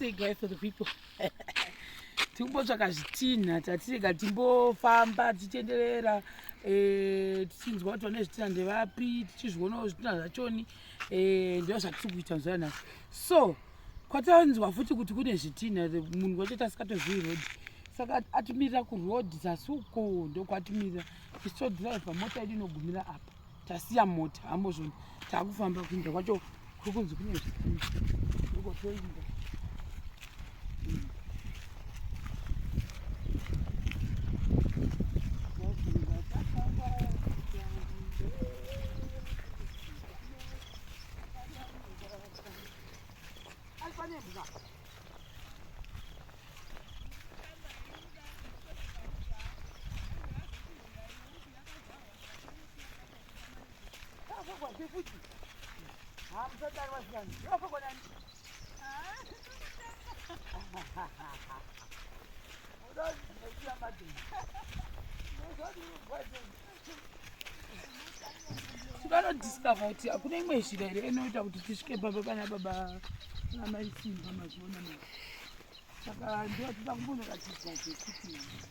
Say goodbye for the people. tikumbotsvaka zvitinha tatirega timbofamba tichitenderera eh, tichinzwa kuti vane zvitinha ndevapi tichizvionawo zvitinha zvachoni eh, ndo zvatiri kuita mazuva anaya so kwatanzwa futi kuti kune zvitinha munhu wacho tasikatozivi road saka atimirira kuroad zasi uko ndokwatimirira isodrive mota yedu inogumira apa tasiya mota hambozvoni takufamba kuinda kwacho kuri kunzi kune zvikuukotoinda vanodiscover kuti hakuna imwe zhira here inoita kuti tisvike baba pana baba amai simba mazuona ma saka ndotoda kumbonoratidza zvekuti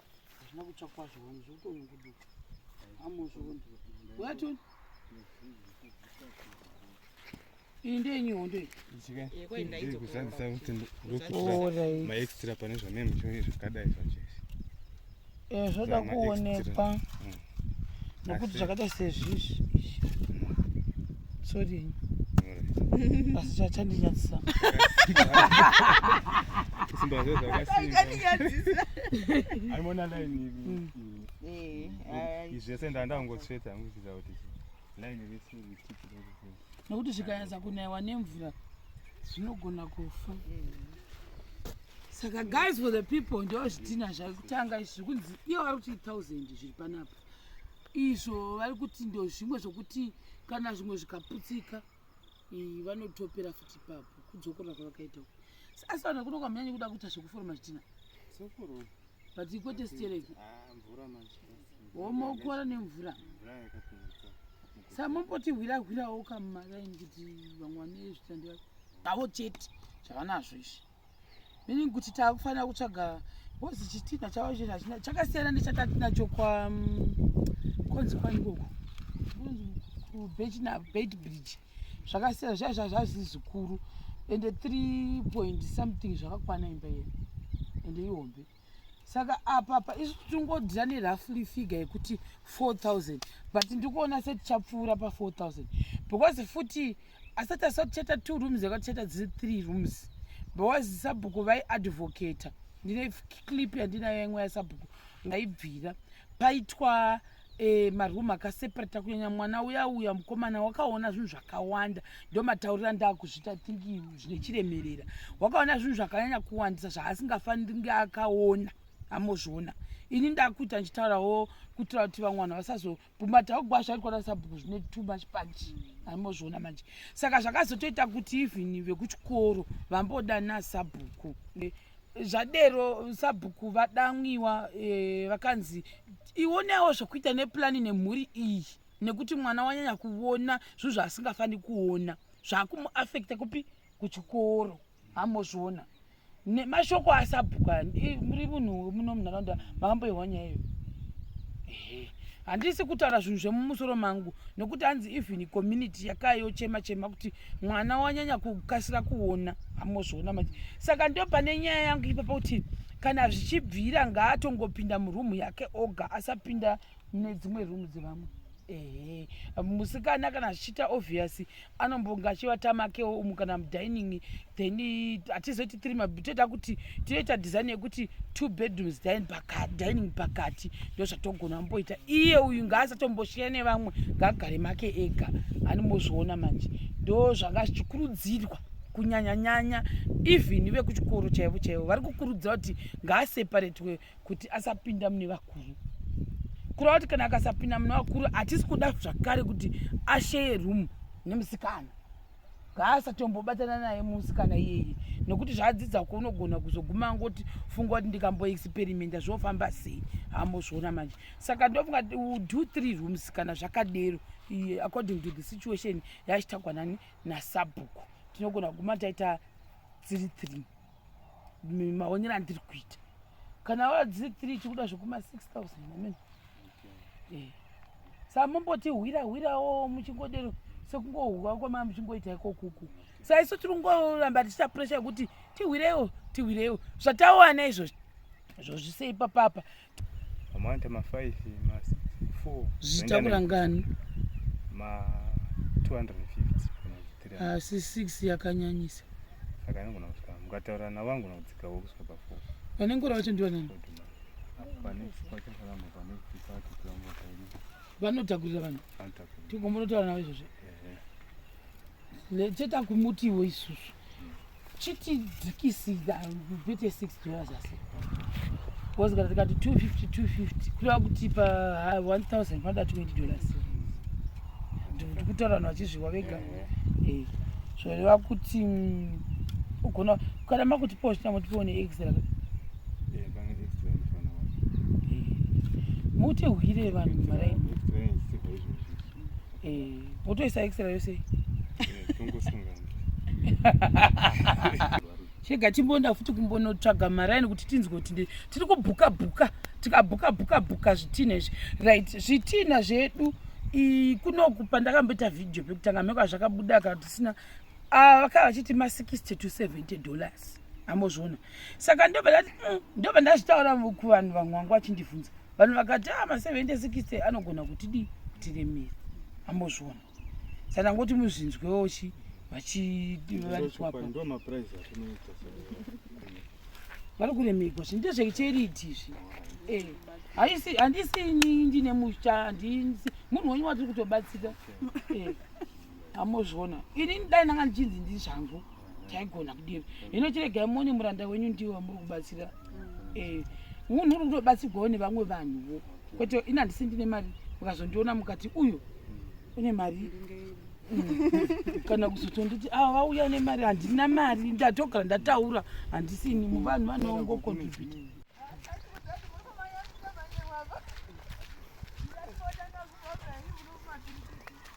hazvina kutsva kwazvo wani zvotonyunguduka amozviona ungatoni iyi ndeyenyu hondo iyiikuzadzisa kuti ndokuira maextra pane zvameme zvakadai zvachese eh, zvoda kuonekwa mm. nokuti zvakaita sezvizvi sorry asi zvachandinyadzisa aimona laini zvese ndandangotsveta anguchita kuti laini rese nokuti zvikanyatsa kunaiwa nemvura zvinogona kufa saka guys for the people ndo zvidhina zvakutanga izvi zvikunzi iyo vari kuti thousand zviri panapa izvo vari kuti ndo zvimwe zvokuti kana zvimwe zvikaputsika vanotopera futi papo kudzokora kwavakaita uku asi vanhu vakuno kwamanyanya kuda kuita zvekuforoma zvidhina but kwete stereki ah, womaukora nemvura samomboti hwira hwirawo kamumaraini kuti vamwe vane zvitandi vako avo chete zvavanazvo izvi meaning kuti taakufanira kutsvaga bcoz chitina chavo chii hachina chakasiyana nechatatiinacho kwakonzi mm, kwani koko kubed bridge zvakasiyana zvaizva zvazi zvikuru ende three point something zvakakwana imba yenu ende ihombe saka apapa isu tingodira nerafly figure yekuti 4000 but ndikuona setichapfuura pa4000 because futi asati asati chata two rooms yakati chata dziri three rooms because sabhuku vaiadvocator ndine clip yandinayo imwe yasabhuku ndaibvira paitwa e, maroom akaseparata kunyanya mwana uya uya mukomana wakaona zvinhu zvakawanda ndomataurira ndaakuzvita thinki zvine chiremerera wakaona zvinhu zvakanyanya kuwandisa zvaasingafaniri nge akaona amozviona ini ndakuita ndichitaurawo kuitira kuti vamwe vanhu vasazobhumata ogwazha ikona sabhuku zvine too much punch amozviona manje saka zvakazotoita kuti even vekuchikoro vamboda nasabhuku zvadero sabhuku vadanwiwa eh, vakanzi ionewo zvekuita nepulani nemhuri iyi nekuti mwana wanyanya kuona zvinhu zvaasingafani kuona zvakumuafekta kupi kuchikoro hamozviona nemashoko asabhuku aya muri munhu wemuno munharaunda makamboihwa nyaya iyo handisi kutaura zvinhu zvemumusoro mangu nokuti hanzi even community yakayochema chema kuti mwana wanyanya kukasira kuona amozviona manje saka ndo pane nyaya yangu ipapa kuti kana zvichibvira ngaatongopinda murumu yake oga asapinda mune dzimwe rumu dzevamwe ehe musikana kana zvichiita obvious anombonga achivatamakewo umu kana mudining then hatizoti tiri mabitoda kuti tinoita design yekuti two bedrooms dining pakati ndozvatogona mboita iye uyu ngaasatomboshira nevamwe ngaagare make ega animozviona manje ndo zvanga zvichikurudzirwa kunyanyanyanya even vekuchikoro chaivo chaivo vari kukurudzira kuti ngaaseparetwe kuti asapinda mune vakuru kureva kuti kana akasapinda mune vakuru hatisi kuda zvakare kuti asheye room nemusikana ngaasatombobatana naye musi kana iyeye nokuti zvaadzidza ko unogona kuzoguma angoti funga kuti ndikamboexperimenta zvofamba sei hambozviona manje saka ndofunga do three rooms kana zvakadero according to the situation yachitagwa nani nasabhuku tinogona kuguma taita dziri three maonero andiri kuita kana wa dziri three tikuda zvekuma six thousand amene okay. eh. sa mumboti hwira hwirawo muchingodero sekungohwa kwama muchingoita iko kuku sa isu tiri kungoramba tichita pressure yekuti tihwirewo tihwirewo zvatawana izvozvi zvozvisei papapa amawanta ma 5 ma 4 zvitakura ngani ma 250 asi 6 yakanyanyisa saka anogona kusvika mukataura navo anogona kudzikawo kusvika pa 4 vanenge ura vacho ndivanani vanotakurira vanhu tingombonotaura navo izvozvo chete akumutiwo isusu chitidzikisira vete six dollars asi bcause kana tikati two fifty two fifty kureva kuti pa one thousand panoda twenty dollars ndikutaura vanhu vachizviwa vega zvoreva kuti mm, ugona Kana makuti po zvitanga kuti po ne extra. Eh, kana extra ni fana wa. Muti hwire vanhu mara. Extra ni si kwa izvo. Eh, muti isa extra yose. Eh, tongo sunga. Chega chimbonda futi kumbono tsvaga mara ni kuti tinzwe kuti tiri kubhuka bhuka, tikabhuka bhuka bhuka zvitina izvi. Right, zvitina zvedu. I kunoku pandakambeta video pekutanga meko zvakabuda ka tisina ah, vakava vachiti ma 60 to 70 dollars amozviona saka ndobva ndati mm, ndobva ndazvitaura kuvanhu vamwe vangu vachindibvunza vanhu vakati a ah, ma 70 60 anogona kuti dii kutiremera amozviona saka ndangoti muzvinzwewo chi vari kuremegwa zvi ndezvecheriti izvi eh, haisi handisi ini ndine musha munhu wenyu watiri kutobatsira eh. amozviona inini dai ndanga ndichinzi ndii zvangu taigona kudini hino chiregai muone muranda wenyu ndiwo wamuri kubatsira eh, munhu uri kutobatsirwawo nevamwe vanhuwo kwete ini handisi ndine mari mukazondiona mukati uyu une mari mm. kana kuzotonditi ava ah, vauya nemari handina mari ndatogara ndataura handisini muvanhu vanoongokontributa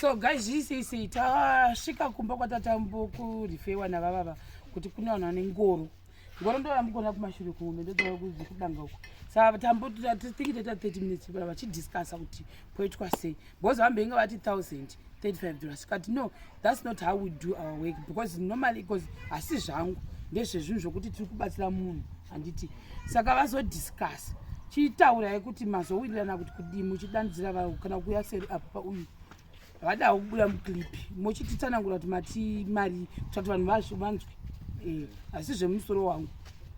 so guys isisi tasvika kumba kwatatambokurifewa navavava kuti kune vanhu vane ngoro ngoro ndoyambukona kumashure kumwe ndodaa kudanga uko sa tambotingi toita 30 minutes vachidiscussa kuti poitwa sei because vambenge vati 1035 dollars tikati no thats not how we do our work because normally because hasi zvangu ndezvezvinhu zvokuti tiri kubatsira munhu handiti saka vazodiscuss chitaurai kuti mazowirirana kuti kudii muchidanidzira vavo kana kuuya seri apo pauyu vadawo kubuda muclip mochititsanangura kuti mati mari kutati vanhu vazvo vanzwe eh, asi zvemusoro wangu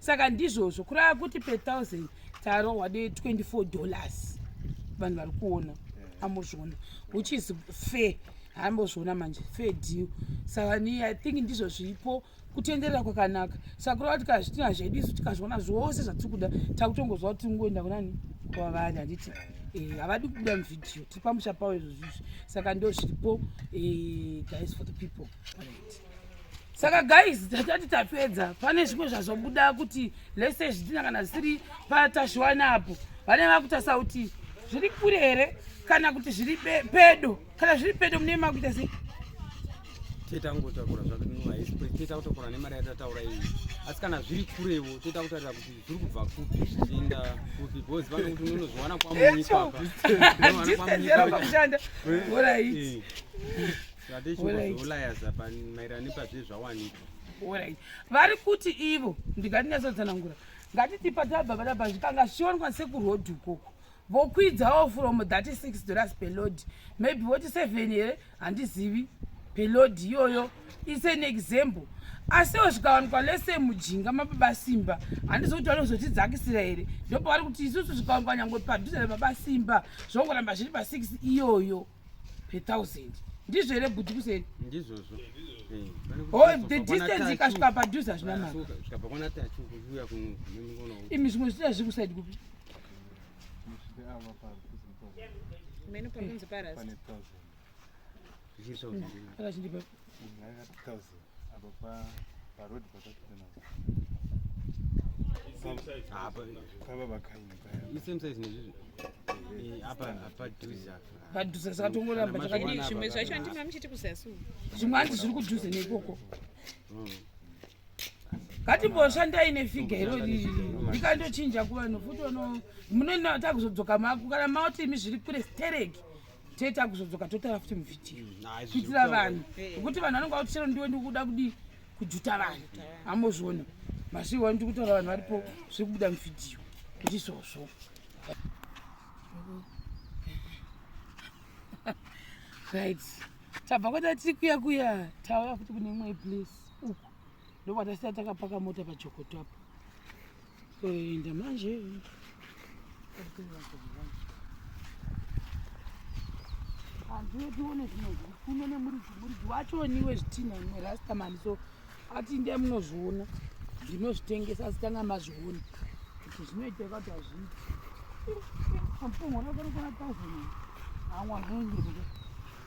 saka ndizvozvo kurava kuti per thousand tarohwa de 24 dollars vanhu vari kuona ambozviona which is fair hambozviona manje fair deal saka ni i think ndizvo zvipo kutenderera kwakanaka saka kurava kuti kazvitina zvedu isu tikazviona zvose zvatiri kuda takutongozva kuti tingoenda kunani kwavanhu handiti Eh, havadi kubuda muvideo tiri pamusha pavo izvozvizvi saka ndo zviripo eh, guys for the people saka guys tatati tapedza pane zvimwe zvazobuda kuti lese zvidhina kana zvisiri patashwana apo vane vakutasa kuti zviri kure here kana kuti zviri pedo kana zviri pedo mune makuita sei toita kungotakura zvakunoaisitoita kutakura nemari yatataura iyi asi kana zviri kurewo toita kutarira kuti zviri kubva kupi zvichienda kupi bcause vane kuti unonozviwana kwamunyikaakushanda orit vari kuti ivo ndingatinyatsotsanangura ngatiti patabva padabva zvikanga zvionwa sekuroad ukoko vokwidzawo from 36 dollars pelod maybe voti 7 here handizivi pelod iyoyo is an example asiwo zvikawanikwa lese mujinga mababa simba handizi kuti vari kuzotidzakisira here ndopavari kuti isusu zvikawanikwa nyangwe padhuze nebaba simba zvongoramba zviri pa 6 iyoyo per thousand ndizvo here bhudhi kuseni ndizvozvo eh, the distance ikasvika padhuze hazvina maka imi zvimwe zviita zviri kusaidi kupi mene panonzi parasi akachindipa padhuze zvatongoramba takadii zvimwe zvacho andina muchiti kusasu zvimwe hanzi zviri kudhuze nekoko ngatimboshandai nefiga iro riri ndikandochinja kuvanhu futi munotaakuzodzoka mako kana maoti imi zviri kure stereki tete akuzodzoka totara futi muvhidhiyo mm, kuitira vanhu nekuti vanhu vanenge vati chero ndiwe ndikuda kudii kujuta vanhu ambozviona masiwo wani tikutaura vanhu varipo zviri kubuda muvhidhiyo ndizvozvo right tabva kwata tiri kuya kuya tauya futi kune imwe place uku ndokwatasiya takapaka mota pajokoto apo Kuenda manje. Hanzi tione zvinozvi kuno nemuridzi muridzi wacho niwe zvitinha imwe rasta mani so ati ndai munozviona ndinozvitengesa asi tanga mazviona kuti zvinoita kuti hazviiti ampongo rakarikona thousand amwa zvinondirika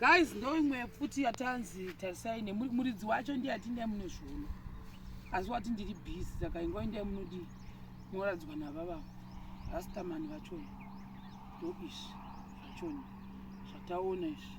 guys ndoimwe futi yatanzi tarisai nemuridzi wacho ndiye ati ndai munozviona asi wati ndiri busy saka ingwa indai munodii munoradzwa navavavo rastamani vachona ndoizvi zvachona zvataona izvi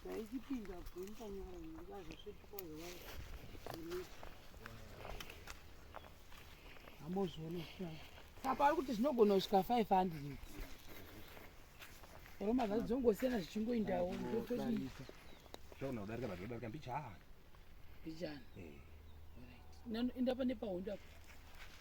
Ndaizipinda kuimba nyara ndikazosvetuka zvewai. Amozviona kusvika. Saka ari kuti zvinogona kusvika 500. Oro mavhazi dzongosiyana zvichingoindawo ndotodii. Zvona udarika vanhu vadarika mbichana. Mbichana. Eh. Inda pane pahondo apo.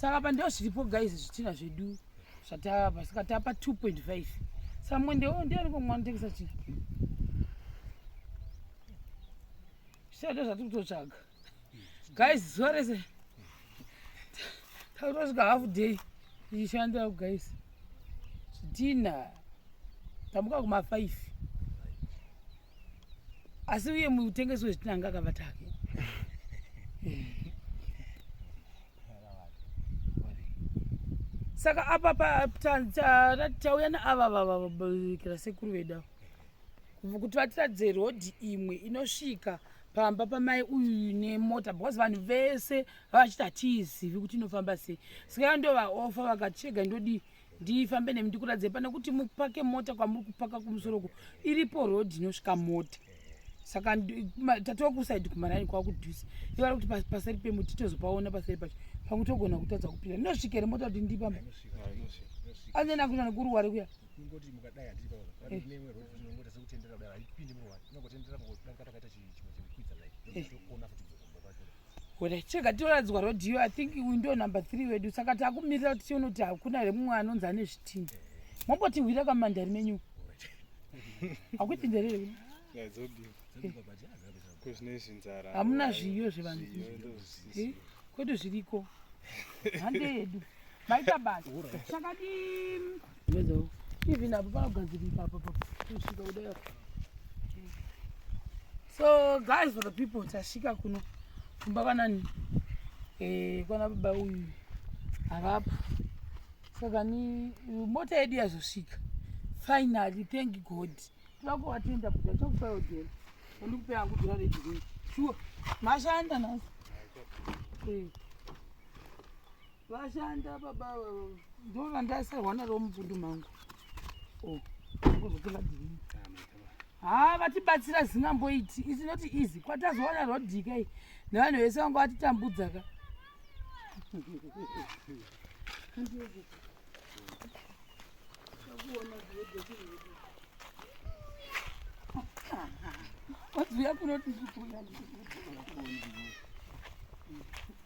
saka apa ndoo zviripo guys zvitina zvedu zvatava saka tava pa 2.5 saka mwendewo ndiani komwa anotengesa chii zvitina ndo zvatiri kutotsvaga guys zuva rese takutosvika half day tichishandira guys zvitina tamuka kuma 5 asi uye mutengesi wezvitina anga akabata hake saka apa tauya naava vavakira sekuru vedu ava kuti vatiratidze rodhi imwe inosvika pamba pamai uyu nemota because vanhu vese vavachiti hatiizivi kuti inofamba sei saka ndo vaofa vakati chega ndodii ndifambe nemi ndikuradzei pane kuti mupake mota kwamuri kupaka kumusoro uko iripo road inosvika mota saka tatova kusaidi kumaraini kwava kudhusa ivo vari kuti paseri pemuti tozopaona paseri pacho pamwe togona kutadza kupinda ndinosvika here mota kuti ndipamba anzeni akuita nekuruware kuya Hure chega tinoradzwa rodhiyo i think uyu ndo number three wedu saka takumirira kuti tione kuti hakuna here mumwe anonzi ane zvitini mombotihwira kamandari menyu hakuti nderei hamuna zviyo zvevanhu eh, kwedu zviriko hande yedu maita basa chakadii even apo panogadzirika apa kusvika kudai so guys for the people tasvika kuno kumba kwanani eh, kwana baba uyu havapo saka ni mota yedu yazosvika finally thank god tivakuvatenda kuda chakupayo dhera andikupe yangu dhera redhiri shuwa mashanda nhasi eh. Vashanda baba ava ndona ndaisarwa naro mubundu mangu. Oh, kuzotenga dhiri. Haa vatibatsira zingamboiti isi not easy kwatazowana rodhika iyi nevanhu vese vanga vatitambudza ka wadziuya kunoti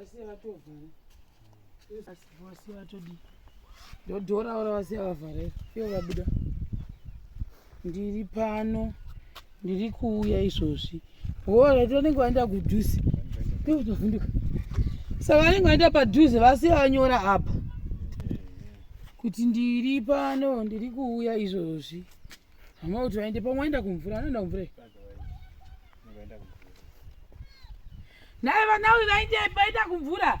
asi vatovhara asi vasiya vatodii ndodhora ora vasiya vavharera iyo vabuda ndiri pano ndiri kuuya izvozvi hora tonenge vaenda kudhuze ndikutovhunduka saka vanenge vaenda padhuze vasi vanyora apa kuti ndiri pano ndiri kuuya izvozvi hama kuti vaende pamwe vaenda kumvura anoenda kumvura naye vanawe vaindepi vaenda kumvura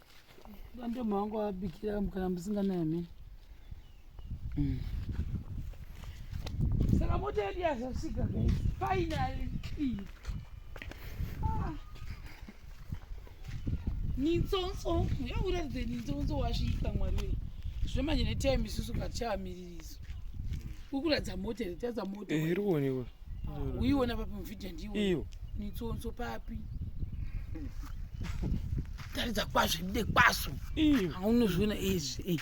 Ndomba wangu wabikira kana musinganaye mimi. Mm. Saka mota yedu yazosvika guys. Finally. Ah. Nitsonso, yakuratidza nitsonso wasvika mwari wee. Zvemanje netime isusu katichamiririso. Ukuratidza mota here, tatadza mota. Eh, iri kuonekwa. uiona papi muvhidhiyo ndiwo iyo nitsonso papi taridza kwazvo ibude kwaso aunozviona izvi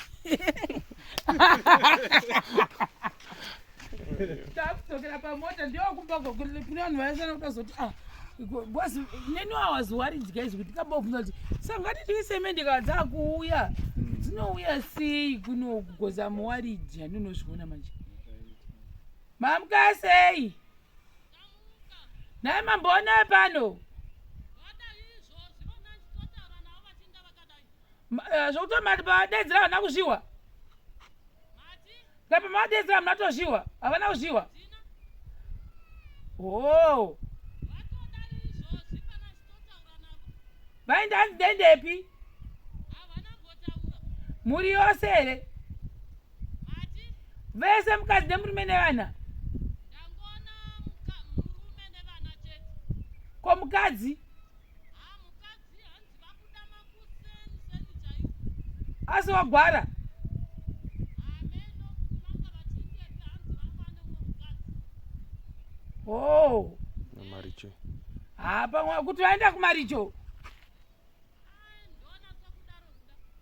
takudzokera pamota ndokumba kune vanhu vaisana kuda zoti ah, bcause neni wawaziwaridya izvi kuti kabovhuna kuti sangati tiisemende kaa dzakuuya hmm. dzinouya sei kunokugoza muwaridya ndinozviona manje Mamuka sei? Nhai mamboona pano? Eh, zvekuti mati pavadedzera havana kuzviwa kapa mavadedzera hamuna tozviwa havana kuzviwa o vainda hanzi dendepi mhuri yose here vese mukadzi nemurume nevana ko mukadzi asi wagwara o oh. haa pamwe kuti vaenda kumaricho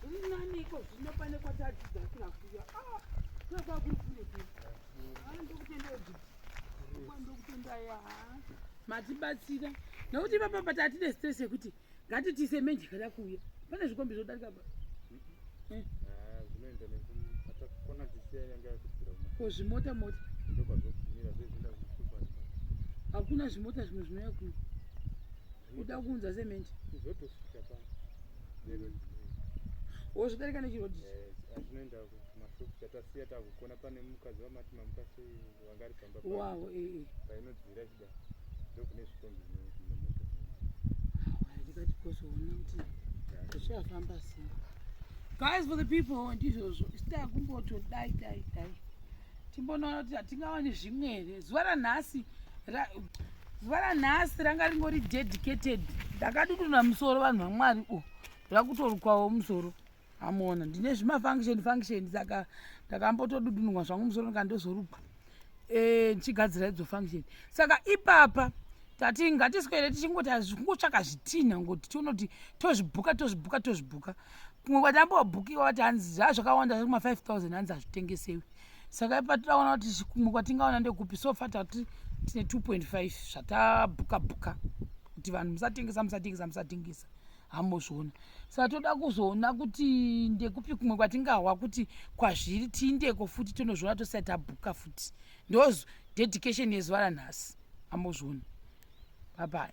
Zviri nani iko zvino pane kwatadzidza kira kuya. Ah, kira kwa kuri kuri kuri. Ah, ndokutenda kuti. Kwa ndokutenda ya. Matibatsira. Nokuti baba bata atine stress yekuti ngatitise menji kana kuya. Pane zvikombi zvodarika baba. Eh. Ah, zvinoenda nekupata kona tisiya yanga yakubvira. Ko zvimota mota. Ndokwa zvokubvira zvezvinda zvikubata. Hakuna zvimota zvimwe zvinouya kuya. uda kuunza cement kuzotosvika pa neroad wozvidarika nechiroad ichi azvinoenda eh, kumashop chatasiya takukona pane mukadzi vamati mamuka sei wanga ari pamba wavo ee eh, eh. painodzira chida ndokune zvikombi zvinomoto ndikati kozoona kuti zvichafamba sei guys for the people ndizvozvo sita kumbotodai dai dai timbonoona kuti hatingawani zvimwe here zuva ranhasi zuva ranhasi ranga ringori dedicated ndakaduduna musoro vanhu vamwari u rakutorukwawo musoro amona ndine zvimafunction function saka ndakambotodudunwa zvangu musoro ndikandozorukwa eh, ndichigadzira idzo function saka ipapa tati ngatiswere tichingoti kungotsvaka zvitinha ngoti tiona kuti tozvibhuka tozvibhuka tozvibhuka kumwe kwatambobhukiwa vati hanzi zvaa zvakawanda zviri kuma-five thousand hanzi hazvitengesewi saka ipa tiraona kuti kumwe kwatingaona ndekupi so fa tati tine two point five zvatabhuka bhuka kuti vanhu musatengesa musatengesa musatengesa hamozviona saka toda kuzoona kuti ndekupi kumwe kwatingahwa kuti kwazviri tiindeko futi tonozviona tosati tabhuka futi ndos dedication yezuva ranhasi hamozviona babai